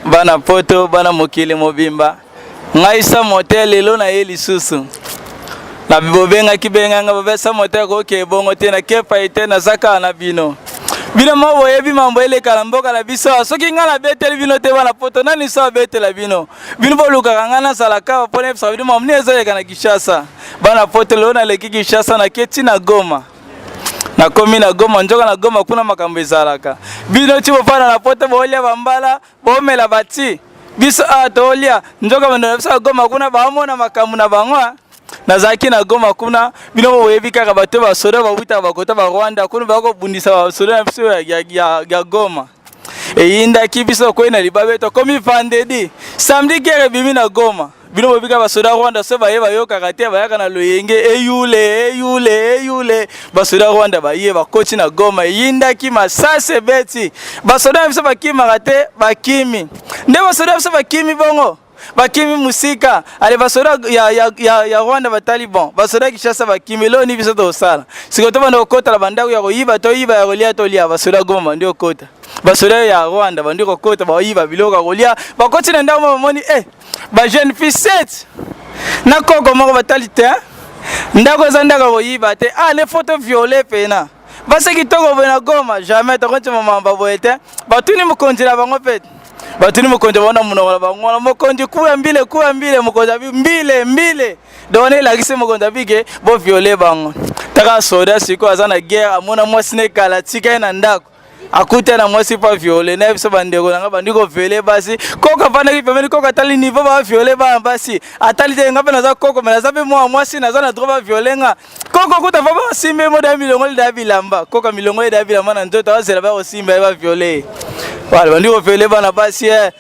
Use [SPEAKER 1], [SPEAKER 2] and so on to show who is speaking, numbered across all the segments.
[SPEAKER 1] bana poto bana mokili mobimba ngai sa mote lelo na ye lisusu na bobengaki benganga bobesa mote akoki ebongo te na kepa ye te naza kaka na bino bino moko boyebi mambo eleka na mboka na biso awa soki ngai nabeteli bino te bana poto nani so abetela bino bino bolukaka ngai nazala kaka mpo nayebisaka bino mambo nini ezoleka na kinshasa bana poto lelo naleki kinshasa naketi na goma nakomi na goma njoka na goma kuna makambo ezalaka bino ti bofanda na poto boolya bambala boomela bati biso awa ah, toolya njoka bando na biso ya goma kuna baomona makambo na bango ah. nazalaki na goma kuna bino boyebi kaka bato basoda bawutaka bakota barwanda kuna bakobundisa basoda na biso ya goma eyindaki biso okwei na libabe tokomi vandedi samedi guerre ebimi na goma bino bobika basoda rwanda so baye bayokaka te bayaka na loyenge eyule eyule eyule basoda rwanda baye bakoti na goma eyindaki masasi ebeti basoda na biso bakimaka te bakimi nde basoda na biso bakimi bongo bakimi musika ale basoda ya, ya, ya, ya rwanda bataliban basoda ya kinshasa bakimi eloo ni biso tokosala sikoyo tobanda kokota na bandako ya koyiba toyiba ya kolia tolia basoda goma bandi kokota basoda ya rwanda bandi kokota bayiba biloko ya kolia bakoti na ndako ma bamoni e eh, bajeune fille set na koko moko batali te ndako eza ndako ya koyiba te ale ah, foto viole pena basi kitoko boye na goma jamais tokoncima mamba boye te batuni mokonzi na bango mpe batuni mokonzi bango na monoko na bango wana mokonzi kuya mbile kuya mbile mokonzi abi mbile mbile donc elakisi mokonzi abike boviole bango taka soda sikoyo aza na guerre amona mwasi na ekala tika ye na ndako akuta na mwasi pa viole na biso bandeko nanga bandi ko vele basi koko afandaki pembeni koko atali niveau ba viole bana basi atali te nga mpe naza koko me naza mpe mwana mwasi naza na droit ba viole nga koko kuta fa basimba ye moda ya milongo lida ya bilamba koko milongo lida ya bilamba na nzoto azela bakosimba ye ba viole ye wala bandi ko vele bana basi e eh.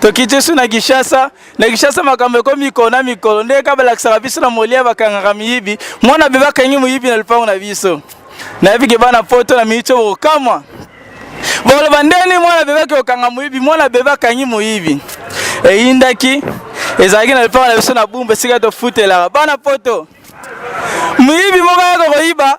[SPEAKER 1] tokitisu na Kinshasa na Kinshasa makambo ekomi mikolo na mikolo nde kaka balakisaka biso na molia bakangaka miyibi mwana bebe akangi moyibi na lupango na biso nayebi ke bana poto na miniti oyo bokokamwa boloba ndeni mwana bebe ake kokanga moyibi mwana bebe akangi moyibi eyindaki ezalaki na lupango na biso na bumba esika tofutelaka bana poto moyibi moko ayaka koyiba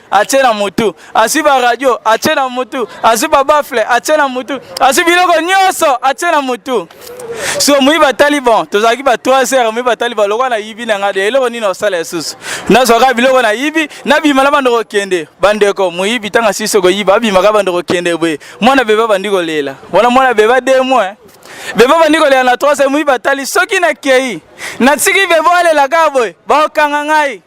[SPEAKER 1] atie na motu azwi baradio atie na motu azwi babafle atie na motu azwi biloko nyonso atie na motu so moyi batali bon tozalaki ba 3 heures moyi batali ba lokola nayibi na ngai de eloko nini osala lisusu nazwaka biloko nayibi nabima na bando kokende bandeko moyibi ntango asisi koyiba abimaka bando kokende boye mwana bebe abandi kolela wana mwana bebe ademo eh. bebe abandi kolela na 3 heures moyi batali soki nakei natiki bebe alela kaka boye bakokanga ngai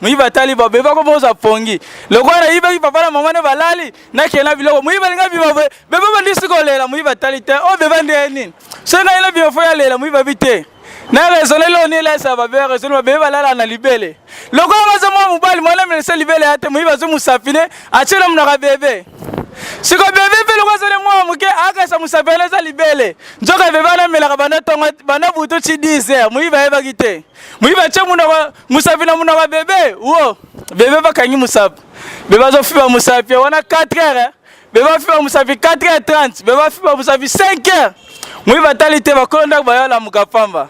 [SPEAKER 1] moyibi atali babe bako boza pongi lokola nayibaki papa na mama ne balali nakee na biloko moyibi alingi abima boye bebe bandisi kolela moyibi atali te oyo oh, bebe ndeye nini soki ngai nabima fo yalela moyibi abi te na raisonne leo nilesa babe raisonne babebe balala na libele lokola baza mwa mobali mwana melese libele ya te moyibi azwi mosapine atie na monaka bebe siko bebe mpe lokola azali mwana moke akasa mosapine eza libele nzoka bebe anamelaka banda butu ti 10 heure moyibi ayebaki te Muyi bache munoko musapi na munoko bebe wo bebe bakangi musapi bebe azofiba musapi wana 4 heures bebe afiba musapi 4 heures 30 bebe afiba musapi 5 heures muyi batali te bakolo ndako bayolamuka pamba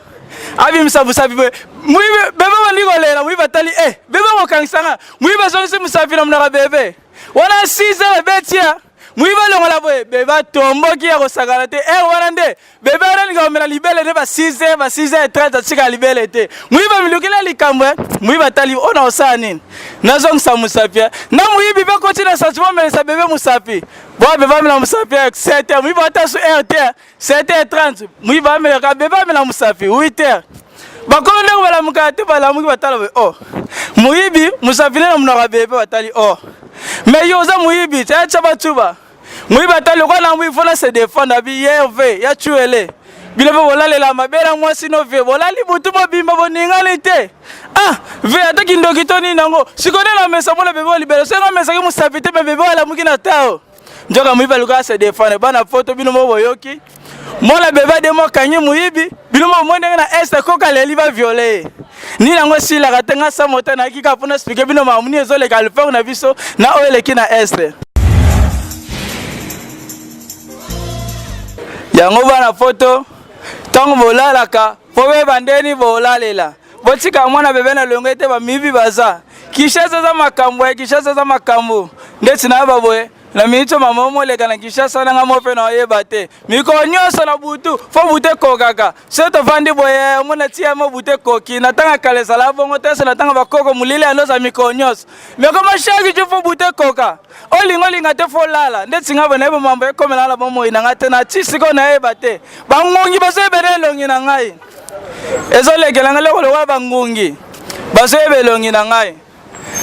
[SPEAKER 1] abimisa musapi boye muyi bebe bandi kolela muyi batali e eh, bebe kokangisa nga muyi bazongisi musapi na munoko bebe wana 6 heures ebetia moyibi alongola boye bebe atomboki ya kosakana te ere wana nde bebe arelinga komela libele nde ba 6 heure ba 6 heure 30 atika libele te moyibi amilukela likambo e moyibi atali oyo na kosala nini nazongisa mosapi e na moyibi mpe koti na santi momelisa bebe mosapi boa bebe amela mosapi e 7 heure moyibi atasu heure te 7h30 muyi bamela ka bebe amela musafi 8h bakolo ndenge balamuka te balamuki batala boye o oh. moyibi musafi nde na monaka bebe batali o oh. mais yo oza moyibi tya tya batuba moyibi atali lokola nango ifo na se defendre abi yerve ya tuele bino mpe bolalela mabela mwasi no vie bolali butu bobimba boningani te ah vie ata kindoki to nini yango sikoyo nde na mesa mpona bebe olibela soki nga mesaki mosapi te me bebe alamuki na tao nzoka moyibi aluka se defendre bana poto bino moko boyoki mwana bebe ademo akangi moyibi bino moko moi ndenge na este koka leli baviole ye nini yango esilaka te nga sa mota nayaki kaka mpo naexplike bino makambo nini ezoleka lefere na biso na oyo eleki na este yango bana poto ntango bolalaka mpo beba ndeni bolalela botika mwana bebe na longo ete bamiyibi baza kinshasa aza makambo ya kinshasa aza makambo ndeti na yaba boye na miniti mama omoleka na kinshasa nanga mo mpe na oyeba te mikolo nyonso na butu fo butu ekokaka so tofandi boye omona tia mo butu ekoki na ntango kala ezala bongo te so na ntango bakoko molili yandoza mikolo nyonso mekoma shaki ju fo butu ekoka olinga olinga te fo olala ndeti nga boye nayebi mambo ekomela na bomoi na ngai te na ti sikoyo nayeba te bangungi bazoyebela elongi na ngai ezolekela ngai loko lokola bangungi bazoyeba elongi na ngai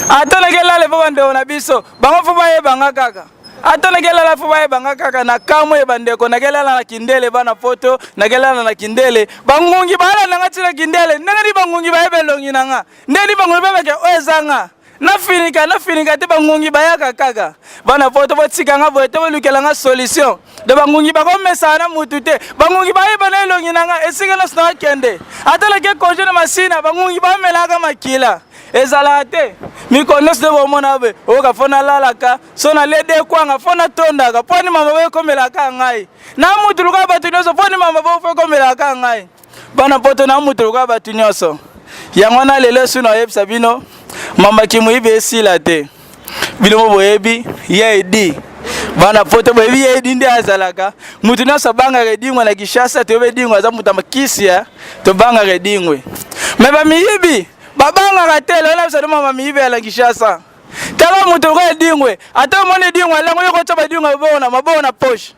[SPEAKER 1] ata nakelala epa bandeko na biso bango fo bayeba nga kaka ata nakelala fo bayeba nga kaka na kamwe ye bandeko nakelala na kindele bana poto nakelala na kindele bangungi baala na nga ntina kindele ndenge ni bangungi bayeba elongi na nga ndenge ni bangungi babeke oyo eza nga nafinika nafinika te bangungi bayaka kaka bana poto botika nga boye te bolukela nga solution de bangungi bakomesana na mutu te bangungi bayeba na elongi na nga esika nyonso nakende ata nake konje na masina bangungi bamelaka makila ezalaka te mikolo nyonso nde bomona boye oyoka mpo nalalaka so nalede kwanga mpo natondaka mpo ni mama boye ekomelaka ngai na mutu luka bato nyonso mpo ni mama boye mpo ekomelaka ngai bana poto na mutu lokola bato nyonso yango wana lelo esu na oyebisa bino mamba kimuyibi esila te bino mo boyebi ya edi bana poto boyebi ya edi nde azalaka mutu nyonso abangaka edingwe na kishasa toyebi edingwe aza moto ya makisi ya tobangaka edingwe me bamiyibi babangaka te lelo na biso noma bamiyibi ya na kishasa tala moto lokola edingwe ata omoni edingwe alango yo kotya badingwe maboko na maboko na poche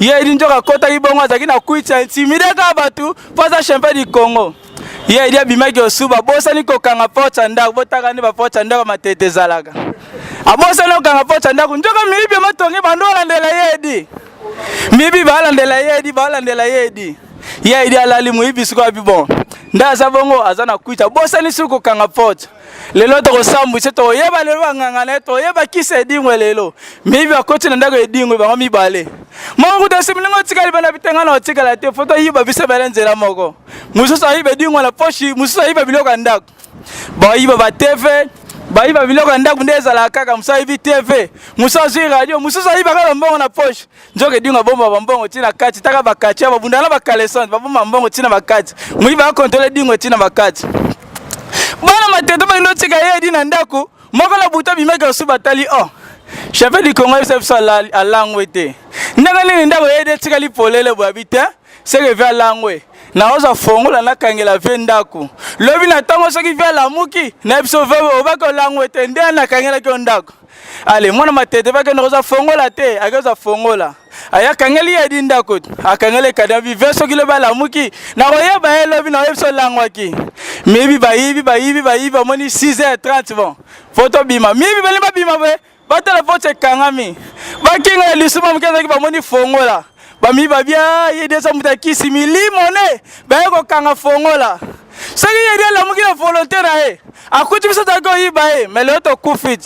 [SPEAKER 1] ye edi nzoka akotaki bongo azalaki na kwiti ya intimide kaka bato mpo aza champion du congo ye edi abimaki osu babosani kokanga porte ya ndako botaka nde baporte ya ndako matete ezalaka abosani kokanga porte ya ndako nzoka miyibi matongi bando olandela ye edi miyibi baalandela ye edi baalandela ye edi ye edi alali moyibi sikoyo abi bon nde aza bongo aza na kwiti abosani suki kokanga porte lelo tokosambwisa toyeba lelo banganga na ye toyeba kisa edingwe lelo miyibi bakoti na ndako edingwe bango mibale moko kuta similingo otikali bana bitenga na otikala te foto ayiba biso bele nzela moko mosusu ayiba edingwe na poshi mosusu ayiba biloko ya ndako bayiba bateve bayiba biloko ya ndako nde ezalaka kaka mosusu ayibi teve mosusu azwi radio mosusu ayiba kaka mbongo na poshi nzoka edinga bomba bambongo ntina kati taka bakati ya babunda na bakalesante babomba mbongo ntina bakati moyi bakontole dingo ntina bakati bana matete balingi otika ye edi na ndako moko na buta bimaki osu batali o oh, cheve du congo yebisa biso alangwe te ndenge nini ndako yedi etikali polele boyabi te seke ve alangwe naoza fongola nakangela ve ndako lobi na ntongo soki ve alamuki na biso ve obaki olangwe te nde nakangelaki yo ndako ale mwana matete bakende koza fongola te akoza fongola aya akangeli ye di ndako akangeli ekada vive soki lobi alamuki nakoyeba ye lobi naoyebi so olangwaki miyibi bayibi bayibi bayibi bamoni 6h30 bon fo tobima miyibi balingi babima boye batala vote ekangami bakinga ya lisuma moke ezalaki bamoni fongola bamiba bia ye nde eza moto ya kisi milimo ne baye kokanga fongola soki ye nde alamuki na volonte na ye akuti biso toyaki koyiba ye me lelo tokufi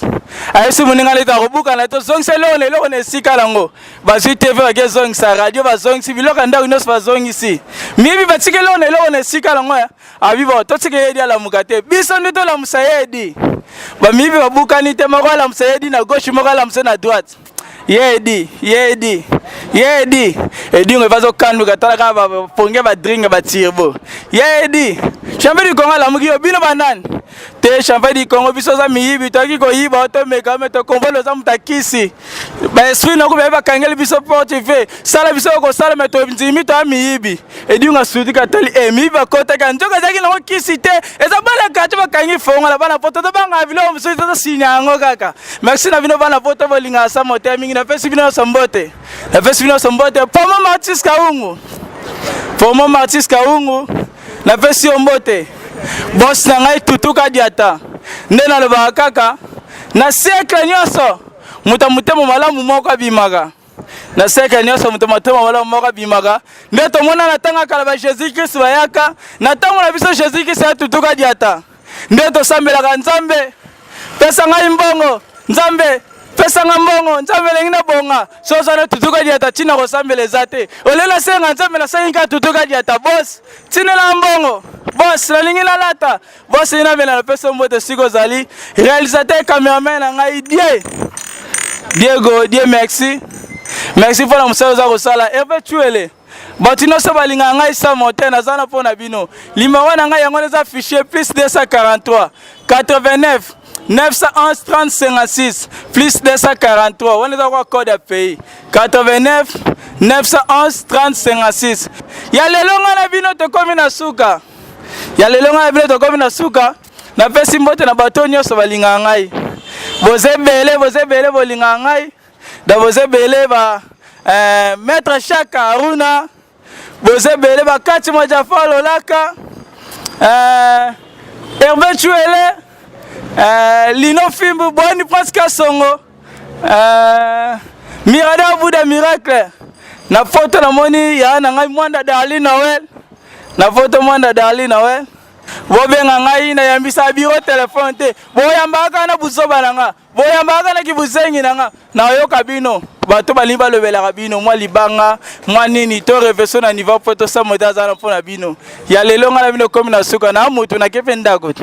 [SPEAKER 1] ayebisi moninga nde tokobuka na ye tozongisa eloko na eloko na esika nango bazwi tv baki ezongisa radio bazongisi biloko ya ndako nyonso bazongisi miyibi batika eloko na eloko na esika nango ya abibo totika ye edi alamuka te biso nde tolamusa ye edi bamiyibi babukani te moko alamusa ye edi na gauche moko alamusa na droite ye edi ye edi ye edi edingo evazo kanduka tala kaka baponge badringe batirbo ye edi champion du congo alamuki yo bino banani te champion du congo biso oza miyibi toyaki koyiba otomeka ome tokomvole oza moto akisi baesprit noko baye bakangeli biso porte ve sala biso okosala me tondimi toya miyibi edinga sudika tali emi eh, bakotaka nzoka ezalaki nango kisi te eza bana kati bakangi fongola bana poto tobanga biloko mosusu tosinya yango kaka merci na bino bana poto bolingaka sa mote mingi napesi bino nyonso mbote napesi bino nyonso mbote pomo martis kaungu pomo martis kaungu napesi yo mbote bos na ngai tutuka diata nde nalobaka kaka na siekle nyonso moto ya motema malamu moko abimaka na siècle nyonso moto matema malamu moko abimaka nde tomona na ntango ya kala ba jésus christ bayaka na ntango na biso jésus christ atutuka diata nde tosambelaka nzambe pesa ngai mbongo nzambe pesa nga mbongo nzambe elengi na bonga so oza na tutuka diata ntina kosambela eza te olela asenga nzambe nasengi nka tutuka diata bos tinela mbongo bos nalingi nalata bosi na bela napesi yo mbote siko ozali réalisateur cameraman na ngai die diego die merci merci mpo na mosala oza kosala herve tuele bato nyonso balingaka ngai sa mote naza na mpo na bino limero na ngai yango wana eza fichier plus 243 89 911 3056 plus 243 wana eza kwa code ya pays 89 911 3056 ya lelo ngai na bino tokomi na suka ya lelo ngai bino tokomi na suka napesi mbote na bato nyonso balingaka ngai boza ebele boza ebele bolingaka ngai da boza ebele ba eh, maître shaka haruna boza ebele bakati mwa jafa lolaka eh, herve cuele eh, lino fimbu boni prince kasongo Euh, Mirada Bouda Miracle. Na photo na moni ya na ngai Mwanda Darly Noël. Na photo Mwanda Darly Noël. bobenga ngai nayambisa biro telefone te boyambaka na buzoba na nga boyambaka na kibuzengi na nga nayoka bino bato balingi balobelaka bino mwa libanga mwa nini to reveso na niveau mpo tosamo te aza na mpo na bino ya lelo ngai na bino komi na suka na motu nakepe ndako te